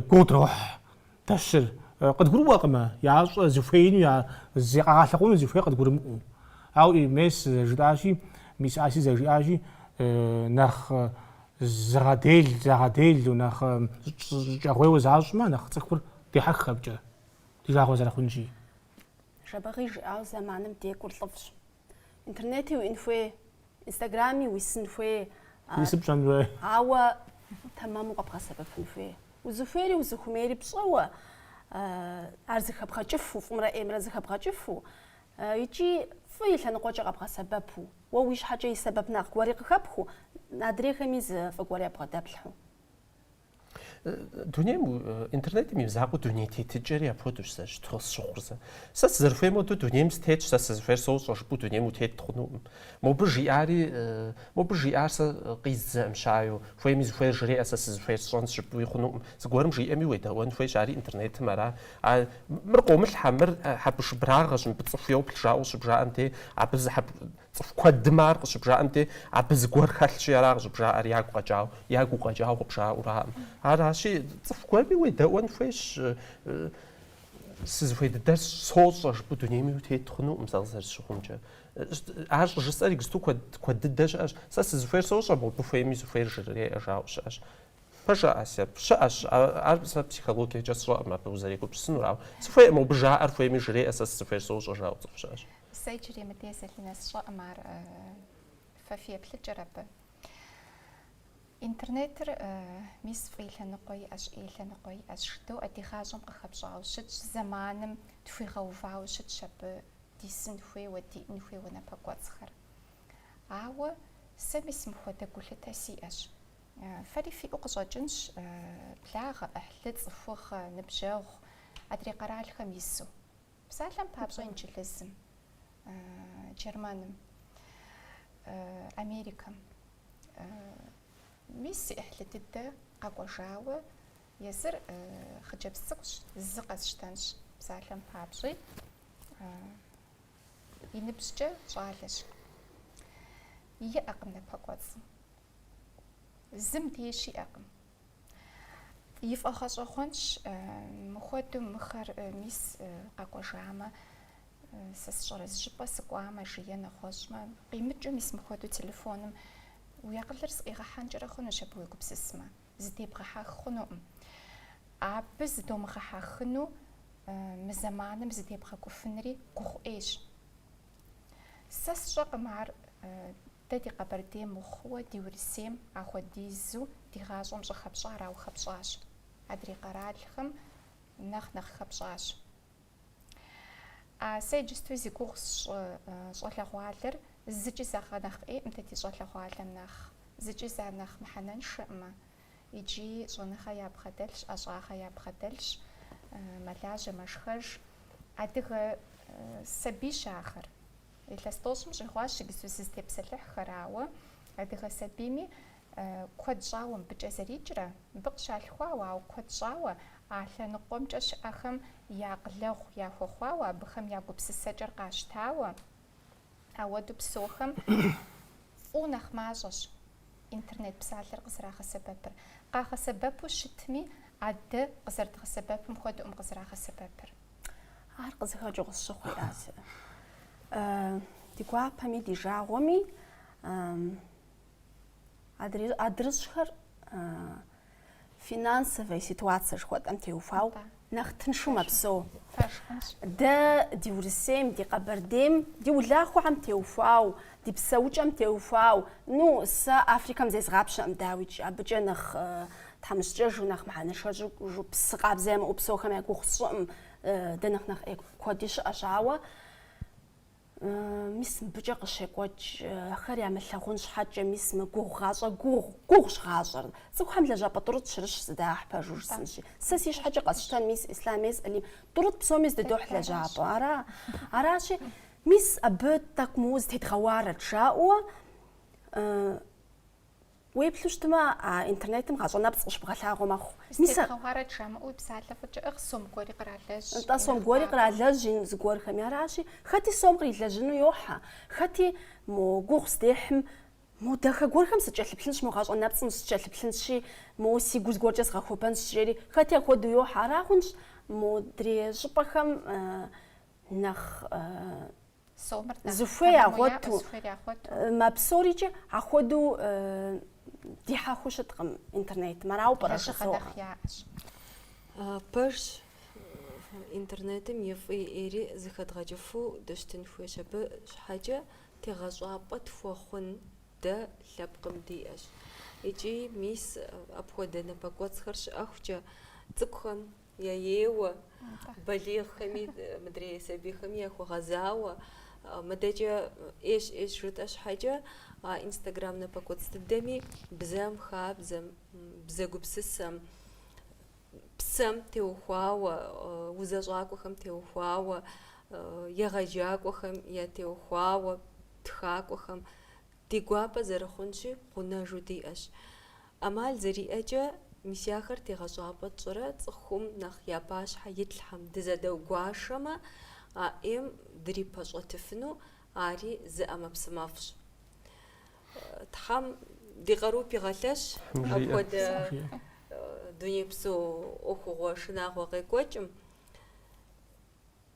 гуодрохь дэщыр. Къыдгурыӏуэкъымэ, ящӏэ зыхуеину, я зыкъагъэлъэгъуэну зыхуей къыдгурымыӏуэу. Ауэ мис зэрыжытӏащи, мис Аси зэрыжиӏащи, нэхъ зыгъэдел, загъэделу, нэхъ щӏыкӏэгъуейуэ защӏмэ, нэхъ цӏыхур дехьэх абыкӏэ, ди жагъуэ зэрыхъунщи. Жэбэгъи жиӏауэ зэманым декӏур лӏыфӏщ. Интернети уин хуей, инстаграми уисын хуей. Исыр пщӏэн хуей. Ауэ тэмэму къэбгъэсэбэпын хуей. Узыхуейри узыхумейри пщӏэуэ ар зыхэбгъэкӏыфу, фӏымрэ ӏеймрэ зыхэбгъэкӏыфу икӏи фӏы и лъэныкъуэкӏэ къэбгъэсэбэпу, уэ уи щхьэкӏэ и сэбэпынагъ гуэри къыхэпхыу, адрейхэми зы фӏы гуэр ябгъэдэплъхьу. дунейм интернетым и мызакъуэу дуней тетыкӏэри апхуэдэущ сэ щыту къысщыхъур сэ. Сэ сызэрыхуейм хуэдэу дунейм сытетщ, сэ сызыхуейр сощӏэ жыпӏэу дунейм утет хъунукъым. Мобы жиӏари, мобы жиӏар сэ къиз зэӏымщаю, хуейми зыхуейр жреӏэ, сэ сызыхуейр сщӏэнщ жыпӏэуи хъунукъым. Зыгуэрым жиӏэми уедэӏуэн хуейщ, ари интернетым ара. А мыр къомылъхьэ, мыр хьэбыршыбырагъэщ, мыбы цӏыху йоплъ жаӏэу щыбжаӏэм дей, абы зы хьэб, Цӏыху куэдым ар къыщыбжаӏэм де, абы зыгуэр хэлъщи, ара къыщӏыбжаӏэр, ягу къэкӏауэ, ягу укъэкӏауэ къыбжаӏураӏым. Аращи, цӏыху гуэрми уедэӏуэн хуейщ, сызыхуей дыдэр сощӏэ жыпӏэу дунейм утет хъунукъым сэ къызэрысщыхъумкӏэ. Ар щӏыжысӏэр иджысту куэд, куэд дыдэ щыӏэщ. Сэ сызыхуейр сощӏэ, мыбы хуейми зыхуейр жреӏэ жаӏэу щыӏэщ. Пэжа, Ася, щыӏэщ, ар сэ психологиекӏэ сщӏэкъым абы узэрегупсысынур, ауэ сыхуейкъым мыбы жаӏэр хуейми жреӏэ, сэ сызыхуейр сощӏэ жаӏэу цӏыху щыӏэщ. Сэ иджырей мыдей Зэлинэ сщӏэкъым, ар фэ фи еплъыкӏэр абы. Интернетыр, мис, фӏы лъэныкъуэ иӏэщ, ӏей лъэныкъуэ иӏэщ. Жыдоӏэ, ди гъащӏэм къыхэпщӏауэ щытщ, зэманым тхуигъэувауэ щытщ абы дисын хуейуэ, диӏэн хуейуэ напэкӏуэцӏхэр. Ауэ сэ, мис, мыхуэдэ гулъытэ сиӏэщ. Фэри фиӏэу къыщӏэкӏынщ благъэ, ӏыхьлы, цӏыхугъэ, ныбжьэгъу, адрей къэралхэм ису. Псалъэм папщӏэ Инджылызым, Германым, Америкэм мис си ӏыхьлы дыдэ къэкӏуэжауэ езыр хъыджэбз цӏыкӏущ, зы къэсщтэнщ, псалъэм папщӏи, и ныбжькӏэ щӏалэщ. Иӏэкъым напэкӏуэцӏ. Зым деж иӏэкъым. Ифӏэгъэщӏэгъуэнщ э, мыхуэдэу мыхэр э, мис э, къэкӏуэжамэ, э, сэ сщӏэрэ, зыщӏыпӏэ сыкӏуамэ, жи, е нэгъуэщӏмэ, къимыкӏыу мис мыхуэдэу телефоным уи акъылыр зэӏигъэхьэнкӏэрэ хъунущ абы уегупсысмэ, зыдебгъэхьэх хъунукъым. Абы зыдомыгъэхьэхыну э, мы зэманым зыдебгъэкӏуфынри гугъу ӏейщ. Сэ сщӏэкъым ар э, Дэ ди Къэбэрдейм мыхъууэ ди Урысейм ахуэдизу ди гъащӏэм щӏыхэпщӏар ауэ хэпщӏащ. Адрей къэралхэм нэхъ нэхъ хэпщӏащ. Сэ иджысту зи гугъу сщӏы щӏалэгъуалэр зыкӏи зэгъэ нэхъ ӏейӏым дэ ди щӏалэгъуалэм нэхъ, зыкӏи зэ нэхъ мыхьэнэншэӏым, э. Икӏи щӏэныгъэ ябгъэдэлъщ, ӏэщӏагъэ ябгъэдэлъщ, мэлажьэ, мэшхэж. Адыгэ сабийщ ахэр. Илъэс тӏощӏым щӏигъуащ иджысту сызытепсэлъыхьхэр, ауэ адыгэ сабийми куэд щӏауэ мыбыкӏэ зэрикӏрэ, мыбы къыщалъхуауэ, ауэ куэд щӏауэ а лъэныкъуэмкӏэ щыӏэхэм я акъылэгъу яхуэхъуауэ, абыхэм я гупсысэкӏэр къащтауэ. Ауэдэу псэухэм фӏыуэ нэхъ мащӏэщ интернет псалъэр къызэрагъэсэбэпыр. Къагъэсэбэпу щытми, а дэ къызэрыдгъэсэбэпым хуэдэкъым къызэрагъэсэбэпыр. Ар къызыхэкӏыу къысщыхъур ясэ. Ди гуапэми ди жагъуэми адрыщӏхэр финансовая ситуация жыхуэтӏэм теухуау нэхъ тыншу мэпсэу. Дэ ди Урысейм, ди Къэбэрдейм, ди улахуэхэм теухуау, ди псэукӏэм теухуау, ну, сэ Африкэм зезгъапщэӏым, дауикӏ, абыкӏэ нэхъ Тхьэмыщкӏэжу нэхъ мыхьэнэншэжу псы къабзэ ямыӏэу псэухэм я гугъу сщӏыӏым. Дэ нэхъ нэхъ ӏей куэди щыӏэщ, ауэ мис мыбыкӏэ къыщекӏуэкӏ ахэр ямылъагъун щхьэкӏэ, мис мы гугъу гъащӏэр гугъу, гугъущ гъащӏэр. Цӏыхухэм лэжьапӏэ тӏурытӏ щырыщ зыдахь пэжу жысӏэнщи. Сэ си щхьэкӏэ къэсщтэн мис Ислъами сэри, тӏурытӏ псоми здыдохь лэжьапӏэ, ара? Аращи, мис абы тӏэкӏу моуэ зытедгъэуарэт, жаӏэуэ, Уеплъу щытмэ, а интернетым гъащӏэ нэпцӏ къыщыбгъэлъагъуэ мэхъу. Мис а зытедгъэуарэт жамыӏэуи псалъэ фӏыкӏыӏыгъ, сом гуэри къралэжь. Нтӏэ, сом гуэри къралэжь ин зыгуэрхэми. Аращи, хэти сом кърилэжьыну йохьэ, хэти мо гугъу здехьым, мо дахэ гуэрхэм сыкӏэлъыплъынщ, мо гъащӏэ нэпцӏым сыкӏэлъыплъынщи, моуэ си гу зыгуэркӏэ згъэхуэбэнщ, жери, хэти апхуэдэу йохьэ. Ара хъунщ модрей щӏыпӏэхэм нэхъ Зыхуей ягъуэту мэпсэури, икӏи ахуэдэу дихьэхыу щыткъым интернетым. Арауэ пӏэрэ жызоӏэ? Пэжщ. Интернетым и фӏи ӏейри зыхэдгъэкӏыфу дыщытын хуейщ. Абы щхьэкӏэ тегъэщӏапӏэ тхуэхъун дэ лъэпкъым диӏэщ. Икӏи мис апхуэдэ напэкӏуэцӏхэр щыӏэхукӏэ цӏыкӏухэм яеуэ, балигъхэми, мыдрей сабийхэми яхуэгъэзауэ. Мыдэкӏэ ӏейщ, ӏейщ жытӏэ щхьэкӏэ инстаграм напэкӏуэцӏ дыдэми бзэм, хабзэм, бзэ гупсысэм, псэм теухуауэ, узэщӏакӏуэхэм теухуауэ, егъэджакӏуэхэм ятеухуауэ, тхакӏуэхэм, Ди гуапэ зэрыхъунщи, гъунэжу диӏэщ. ӏэмал зэриӏэкӏэ, мис ахэр тегъэщӏапӏэ тщӏырэ цӏыхум нэхъ я пащхьэ итлъхьэм, дызэдэгуашэмэ, а ӏейм дрипэщӏэтыфыну ари зы ӏэмэпсымэфӏщ. Тхьэм ди къару пигъэлъэщ апхуэдэ дунейпсо ӏуэхугъуэ шынагъуэ къекӏуэкӏым.